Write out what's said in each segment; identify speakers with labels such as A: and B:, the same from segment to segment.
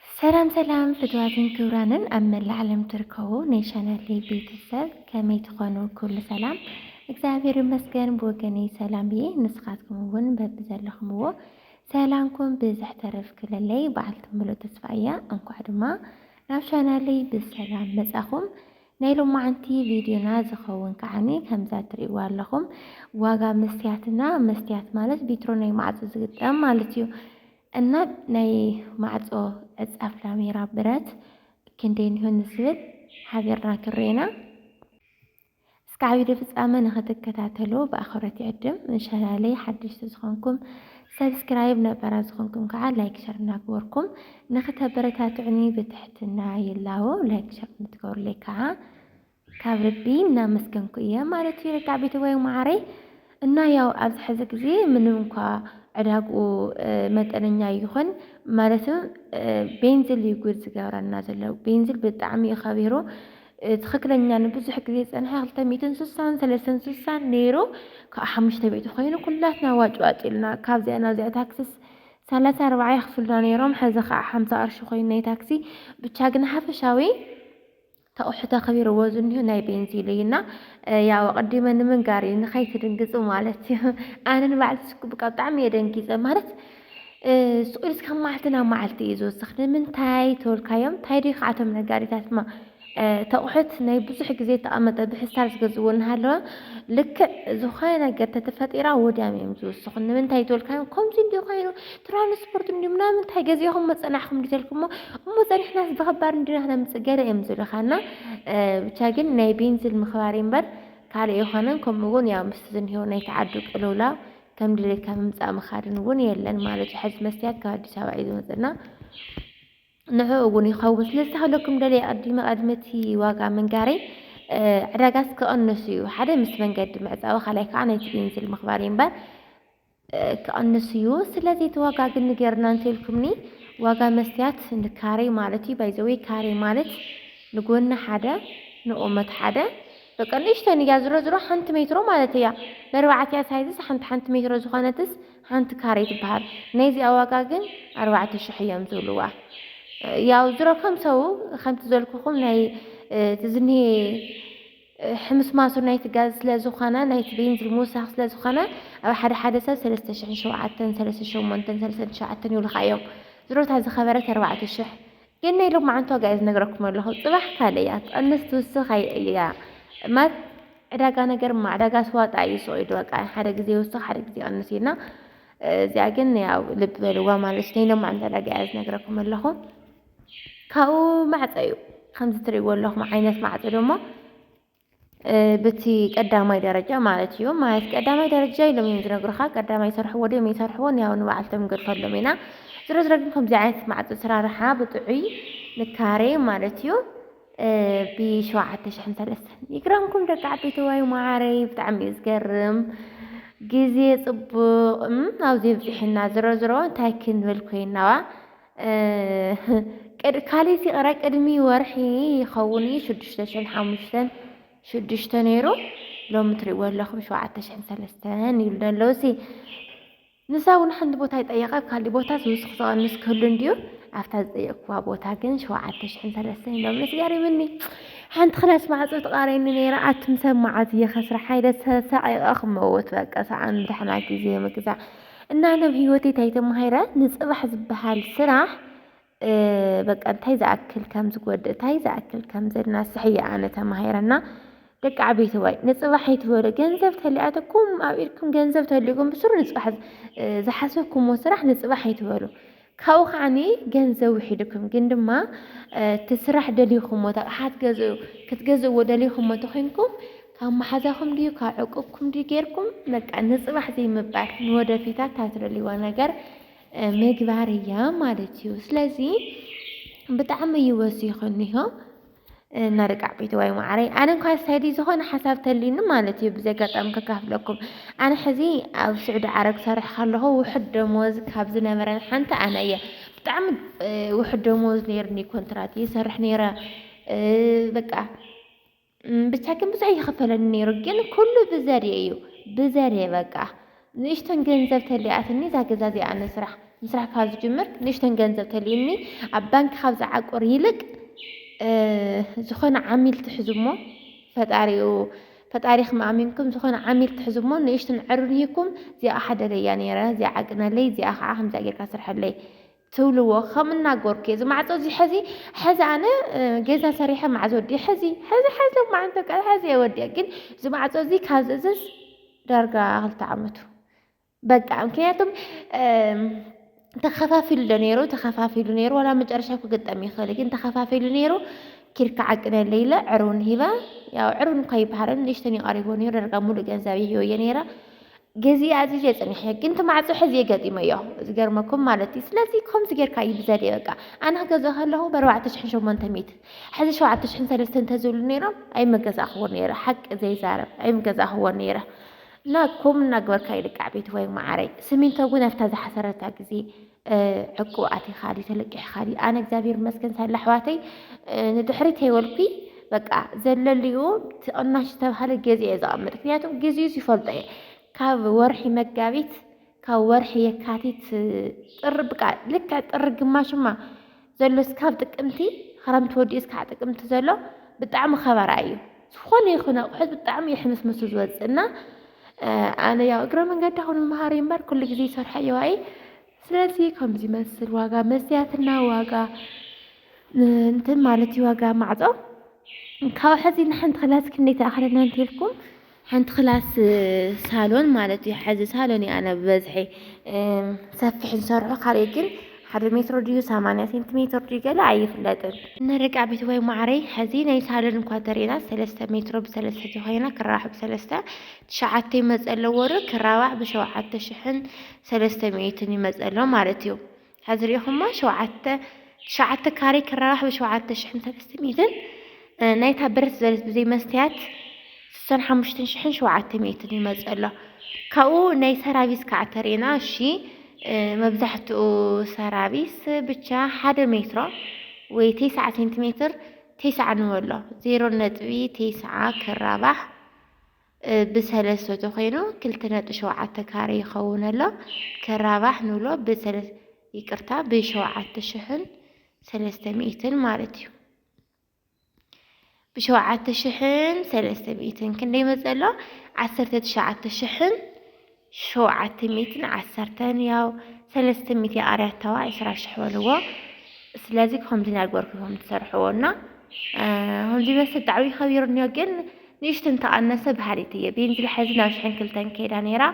A: ሰላም ሰላም ፍትዋትን ክብራንን ኣብ መላእ ዓለም ትርከቡ ናይ ቻናለይ ቤተሰብ ከመይ ትኾኑ? ኩሉ ሰላም እግዚኣብሔር ይመስገን ብወገነይ ሰላም እየ። ንስኻትኩም እውን በብዘለኹምዎ ሰላምኩም ብዝሕ ተረፍ ክለለይ በዓልቲ ምሉእ ተስፋ እያ። እንኳዕ ድማ ናብ ቻናለይ ብሰላም መጻኹም። ናይ ሎማዓንቲ ቪድዮና ዝከውን ከዓኒ ከምዛ ትሪእዋ ኣለኩም ዋጋ መስትያትና መስትያት ማለት ቢትሮ ናይ ማዕጾ ዝግጠም ማለት እዩ እና ናይ ማዕጾ ዕጻፍ ላሜራ ብረት ክንደይ ኒሆ ንዝብል ሓቢርና ክንሪኤና እስካብ ቪድዮ ፍጻመ ንክትከታተሉ ብኣኽብረት ይዕድም። ንቻናለይ ሓደሽቲ ዝኾንኩም ሰብስክራይብ፣ ነባራት ዝኾንኩም ከዓ ላይክ ሸር እናገበርኩም ንክተበረታትዑኒ ብትሕትና ይላቦ ላይክ ሸር ከም ትገብሩለይ ከዓ ካብ ልቢ እናመስገንኩ እየ ማለት እዩ ርጋዕ ቤተወይ ማዓረይ እና ያው ኣብዚ ሕዚ ግዜ ምንም እንኳ ዕዳግኡ መጠነኛ ይኹን ማለት ቤንዝል እዩ ጉድ ዝገብረና ዘሎ ቤንዝል ብጣዕሚ እዩ ከቢሩ ትክክለኛ ንብዙሕ ግዜ ዝፀንሐ ክልተ ሚእትን ስሳን ሰለስተን ስሳን ነይሩ ከዓ ሓሙሽተ ሚእቲ ኮይኑ ኩላትና ዋጭዋጭ ኢልና ካብዚኣ ናብዚኣ ታክስስ ሰላሳ ኣርባዓ የኽፍሉና ነይሮም ሐዚ ከዓ ሓምሳ ቅርሺ ኮይኑ ናይ ታክሲ ብቻ ግን ሓፈሻዊ ተቑሑ ተኽቢርዎ ዝኒሁ ናይ ቤንዚሉ እዩ እና ያው ኣቐዲመ ንምንጋር እዩ ንኸይትድንግፁ ማለት እዩ ኣነ ንባዕልቲ ሽኩብቃ ብጣዕሚ እየ ደንጊፀ ማለት ስቑኢልስ ካብ መዓልቲ ናብ መዓልቲ እዩ ዝወስኽ ንምንታይ ተወልካዮም እንታይ ዶ ይክዓቶም ነጋሪታትማ እቲ ኣቑሑት ናይ ብዙሕ ግዜ እተቐመጠ ብሕስታል ዝገዝእዎ እናሃለወ ልክዕ ዝኾነ ነገር ተተፈጢራ ወዲያም እዮም ዝውስኹ። ንምንታይ ተወልካዮም ከምዚ እንዲዩ ኮይኑ ትራንስፖርት እንዲዩ ምናምን እንታይ ገዚእኹም መፀናሕኹም እንዲተልኩሞ እሞ ፀኒሕናስ ብኸባድ እንዲና ክነምፅእ ገለ እዮም ዝብልኻና ብቻ ግን ናይ ቤንዚን ምኽባር እምበር ካልእ የኾነን ከምኡ እውን ያው ምስቲ ዝኒሄው ናይ ተዓዱ ቅልውላው ከም ድሌትካ ምምፃእ ምኻድን እውን የለን ማለት እዩ። ሕዚ መስትያት ካብ ኣዲስ ኣበባ እዩ ዝመፅና። ንዕኡ እውን ይኸውን። ስለዚ እታ ክብለኩም ደልየ ኣድመ ኣድመ እቲ ዋጋ ምንጋረይ ዕዳጋስ ክቕንሱ እዩ። ሓደ ምስ መንገዲ ምዕፃዊ ካልኣይ ከዓ ናይቲ ቤንዚል ምኽባር እዩ እምበር ክቕንሱ እዩ። ስለዚ እቲ ዋጋ ግን ንገርና እንተልኩምኒ ዋጋ መስትያት ንካሬ ማለት እዩ። ባይዘወይ ካሬ ማለት ንጎኒ ሓደ ንቁመት ሓደ በቃ ንእሽተን እያ ዝሮ ዝሮ ሓንቲ ሜትሮ ማለት እያ። መርባዕቲያ ሳይዝስ ሓንቲ ሓንቲ ሜትሮ ዝኾነትስ ሓንቲ ካሬ ትበሃል ናይዚኣ ዋጋ ግን ኣርባዕተ ሽሕ እዮም ዝብልዋ ያው ዝሮ ከም ሰው ከምቲ ዘልኩኹም ናይ እቲ ዝኒሄ ሕምስማሱ ናይቲ ጋዝ ስለ ዝኾነ ናይቲ ቤንዚል ምውሳኽ ስለ ዝኾነ ኣብ ሓደ ሓደ ሰብ ሰለስተ ሽሕን ሸውዓተን ሰለስተ ሸሞንተን ሰለስተ ትሽዓተን ይብሉኻ እዮም ዝሮታ ዝኸበረት ኣርባዕተ ሽሕ ግን ናይ ሎማዓንቲ ዋጋ እየ ዝነግረኩም ኣለኹ ፅባሕ ካልእ እያ ትቐንስ ትውስኽ ኣይእልያ ማለት ዕዳጋ ነገር ማ ዕዳጋ ስዋጣ እዩ ሱቕ ኢሉ በቃ ሓደ ግዜ ይውስኽ ሓደ ግዜ ይቐንስ እዩና እዚኣ ግን ያው ልቢ በልዋ ማለት ናይ ሎማዓንቲ ዕዳጋ እያ ዝነግረኩም ኣለኹ ካብኡ ማዕፀ እዩ ከምዚ ትሪእዎ ኣለኹም ዓይነት ማዕፀ ድማ በቲ ቀዳማይ ደረጃ ማለት እዩ ማለት ቀዳማይ ደረጃ ኢሎም እዮም ዝነግሩኻ ቀዳማይ ይሰርሕዎ ድዮም ይሰርሕዎን ያው ንባዕልቶም ገድፈሎም ኢና ዝሮ ዝሮ ግን ከምዚ ዓይነት ማዕፆ ስራርሓ ብጥዑይ ንካሬ ማለት እዩ ብሸውዓተ ሽሕን ሰለስተን ይግረምኩም ደቂ ዓበይቲ ዋይ ማዓረይ ብጣዕሚ እዩ ዝገርም ግዜ ፅቡቕ ኣብዚ ብፅሕና ዝሮ ዝሮ እንታይ ክንብል ኮይናዋ ቅድ ካሊት ይቕረ ቅድሚ ወርሒ ይኸውን እዩ ሽዱሽተ ሽሕን ሓሙሽተን ሽዱሽተ ነይሩ ሎሚ ትሪእዎ ኣለኹም ሸውዓተ ሽሕን ሰለስተን ይብሉ ኣለዉ ሲ ንሳ እውን ሓንቲ ቦታ ይጠየቐ ኣብ ካሊእ ቦታ ዝውስኽ ዝቐንስ ክህሉ እንድዩ ኣብታ ዝጠየቅኩዋ ቦታ ግን ሸውዓተ ሽሕን ሰለስተን ኢሎም ስገሪምኒ ሓንቲ ክላስ ማዕፆ ተቓረኒ ነይረ ኣቱም ሰብ መዓዝ እየ ከስራሕ ኢለ ተሳዒቐ ክመውት በቃ ሰዓን ድሕና ግዜ ምግዛእ እና ናብ ህይወቴ ታይ ተማሂረ ንፅባሕ ዝበሃል ስራሕ በቃ እንታይ ዝኣክል ከም ዝጎድእ እንታይ ዝኣክል ከም ዘናስሕ እየ ኣነ ተማሂረና ደቂ ዓበይተዋይ ንፅባሕ ይትበሉ ገንዘብ ተሊኣተኩም ኣብ ኢድኩም ገንዘብ ተሊኡኩም ብስሩ ንፅባሕ ዝሓሰብኩምዎ ስራሕ ንፅባሕ ይትበሉ ካብኡ ከዓኒ ገንዘብ ውሒዱኩም ግን ድማ እቲ ስራሕ ደሊኹሞ እቲ ኣቕሓ ትገዝኡ ክትገዝእዎ ደሊኹሞ እንተኾይንኩም ካብ መሓዛኹም ድዩ ካብ ዕቁብኩም ድዩ ጌርኩም በቃ ንፅባሕ ዘይምባል ንወደፊታ እታ ትደልይዋ ነገር ምግባር እያ ማለት እዩ። ስለዚ ብጣዕሚ እዩ ወሲኹኒሆ። መርቃዕ ቤተዋይ ማዕረይ ኣነ እንኳ ሳይዲ ዝኾነ ሓሳብ ተልዩኒ ማለት እዩ ብዚ ኣጋጣሚ ከካፍለኩም ኣነ ሕዚ ኣብ ስዑዲ ዓረብ ክሰርሕ ከለኹ ውሕድ ደሞዝ ካብ ዝነበረን ሓንቲ ኣነ እየ ብጣዕሚ ውሕድ ደሞዝ ነይርኒ ኮንትራት ይሰርሕ ነይረ በቃ ብቻ ግን ብዙሕ ይኸፈለኒ ነይሩ ግን ኩሉ ብዘድየ እዩ ብዘድየ በቃ ንእሽተን ገንዘብ ተሊኣትኒ እዛ ገዛ እዚኣ ምስራሕ ምስራሕ ካብ ዝጅምር ንእሽተን ገንዘብ ተሊእኒ ኣብ ባንኪ ካብ ዝዓቁር ይልቅ ዝኾነ ዓሚል ትሕዙ እሞ ፈጣሪኡ ፈጣሪኹም ኣሚንኩም ዝኾነ ዓሚል ትሕዙ እሞ ንእሽትን ዕርንሂኩም እዚኣ ሓደለያ ነይረ እዚኣ ዓቅነለይ እዚኣ ከዓ ከምዚኣ ጌርካ ስርሐለይ ትብልዎ ከም እናገርኩ እየ እዚ ማዕፆ እዚ ሐዚ ሐዚ ኣነ ገዛ ሰሪሐ ማዕዝ ወዲእ ሐዚ ሐዚ ሐዚ ሎም መዓልቲ ቃል ሐዚ እየ ወዲእ ግን እዚ ማዕፆ እዚ ካብ ዝእዝዝ ዳርጋ ክልተ ዓመቱ በቃ ምክንያቱም ተኸፋፊሉ ዶ ነይሩ ተኸፋፊሉ ነይሩ ዋላ መጨረሻ ክግጠም ይኽእል ግን ተኸፋፊሉ ነይሩ ኪርካ ዓቅነ ለይለ ዕሩን ሂባ ያው ዕሩን እኳ ይበሃልን ንእሽተን ይቀሪቦ ነይሩ ደርጋ ሙሉእ ገንዘብ ይህዮ እየ ነይረ ግዚየ ኣዚዘ ጸኒሐ ግን እቲ ማዕጾ ሕዝየ ገጢመዮ ዝገርመኩም ማለት እዩ ስለዚ ከምዚ ጌርካ እዩ ብዘልየ በቃ ኣነ ክገዝኦ ከለኹ በርባዕተ ሽሕን ሸሞንተ ሚእትን ሕዚ ሸውዓተ ሽሕን ሰለስተ እንተዝብሉ ነይሮም ኣይምገዛእክዎ ነይረ ሓቂ ዘይዛረብ ኣይምገዛእክዎ ነይረ እና ኮም እናግበርካ ይልቃዕ ቤት ወይ መዓረይ ስሚንቶ ግን ኣብታ ዝሓሰረታ ግዜ ዕቁብ ኣቲኻ ድዩ ተለቂሕኻ ድዩ? ኣነ እግዚኣብሔር ይመስገን ሳላ ኣሕዋተይ ንድሕሪት ኣይበልኩ በቃ ዘለልዩ ትቕናሽ ዝተባሃለ ገዜ እየ ዘቐምጥ። ምክንያቱም ግዚኡስ ይፈልጦ እየ ካብ ወርሒ መጋቢት ካብ ወርሒ የካቲት ጥሪ ብቃ ልክዕ ጥሪ ግማሽማ ዘሎ እስካብ ጥቅምቲ ኽረምቲ ወዲኡ እስካዕ ጥቅምቲ ዘሎ ብጣዕሚ ኸበራ እዩ ዝኾነ ይኹን ኣቑሑት ብጣዕሚ እዩ ሕምስምሱ ዝወፅእ እና ኣነ ያው እግረ መንገዲ ኹን መሃሪ እምበር ኩሉ ግዜ ይሰርሖ እየዋ እየ ስለዚ ከምዚ ይመስል ዋጋ መስትያትና ዋጋ እንትን ማለት እዩ ዋጋ ማዕፆ ካብ ሕዚ ንሓንቲ ክላስ ክንደይ ተኣኽለና እንተልኩም ሓንቲ ክላስ ሳሎን ማለት እዩ ሐዚ ሳሎን እዩ ኣነ ብበዝሒ ሰፊሕ ዝሰርሖ ካልእ ግን ሓደ ሜትሮ ድዩ ሰማንያ ሴንቲሜትር ድዩ ገለ ኣይፍለጥን ንርቃ ቤት ወይ ማዕረይ ሐዚ ናይ ሳሎን እንኳ ተሪእና ሰለስተ ሜትሮ ብሰለስተ ተኮይና ክራባሕ ብሰለስተ ትሽዓተ ይመፀ ኣለዎ ዶ ክራባሕ ብሸውዓተ ሽሕን ሰለስተ ሚእትን ይመፀ ኣሎ ማለት እዩ ሐዚ ሪኢኹማ ሸውዓተ ትሽዓተ ካሬ ክራባሕ ብሸውዓተ ሽሕን ሰለስተ ሚእትን ናይታ ብረት ዝበለት ብዘይ መስትያት ስሳን ሓሙሽተን ሽሕን ሸውዓተ ሚእትን ይመፅ ኣሎ ካብኡ ናይ ሰራቪስ ከዓ ተሪእና እሺ መብዛሕትኡ ሰራቪስ ብቻ ሓደ ሜትሮ ወይ ቴስዓ ሴንቲሜትር ቴስዓ ንበሎ ዜሮ ነጥቢ ቴስዓ ክራባሕ ብ ሰለስተ ተኮይኑ ክልተ ነጥቢ ሸውዓተ ካሬ ይከውን ኣሎ ክራባሕ ንብሎ ብ ይቅርታ ብ ሸውዓተ ሽሕን ሰለስተ ሚእትን ማለት እዩ ብ ሸውዓተ ሽሕን ሰለስተ ሚእትን ክንደይ ይመጽእ ኣሎ ዓሰርተ ትሽዓተ ሽሕን ሸውዓተ ሚእትን ዓሰርተን ያው ሰለስተ ሚእቲ ኣርያታዋ ዕስራ ሽሕ በልዎ ስለዚ ከምዚ ናግበርኩ ኢኹም ትሰርሕዎ እና ከምዚ በስ ዳዕዊ ከቢርንዮ ግን ንእሽቶ እንተቐነሰ በሃሊት እየ ቤንዚል ሕዚ ናብ ሽሕን ክልተን ከይዳ ነይራ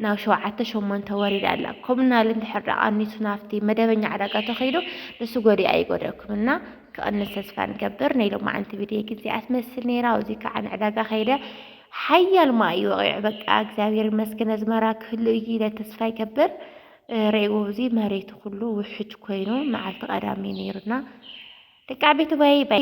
A: ናብ ሸውዓተ ሸሞንተ ወሪዳ ኣላ ኮምናል እንድሕር ዳ ቀኒሱ ናብቲ መደበኛ ዕዳጋ ተኸይዱ ንሱ ጎዲኣ ይጎደኩም እና ክቕንስ ተስፋ ንገብር ናይ ሎማዓንቲ ቪድዮ ግን እዚኣ ትመስል ነይራ ኣብዚ ከዓ ንዕዳጋ ከይደ ሓያል ማይ እዩ ወቂዑ በቃ እግዚኣብሔር ይመስገን ኣዝመራ ክህሉ እዩ ኢለ ተስፋ ይገብር ሬእዎ እዚ መሬቱ ኩሉ ውሕጅ ኮይኑ መዓልቲ ቀዳሚ ነይሩና ደቂ ዓበይቲ ባይ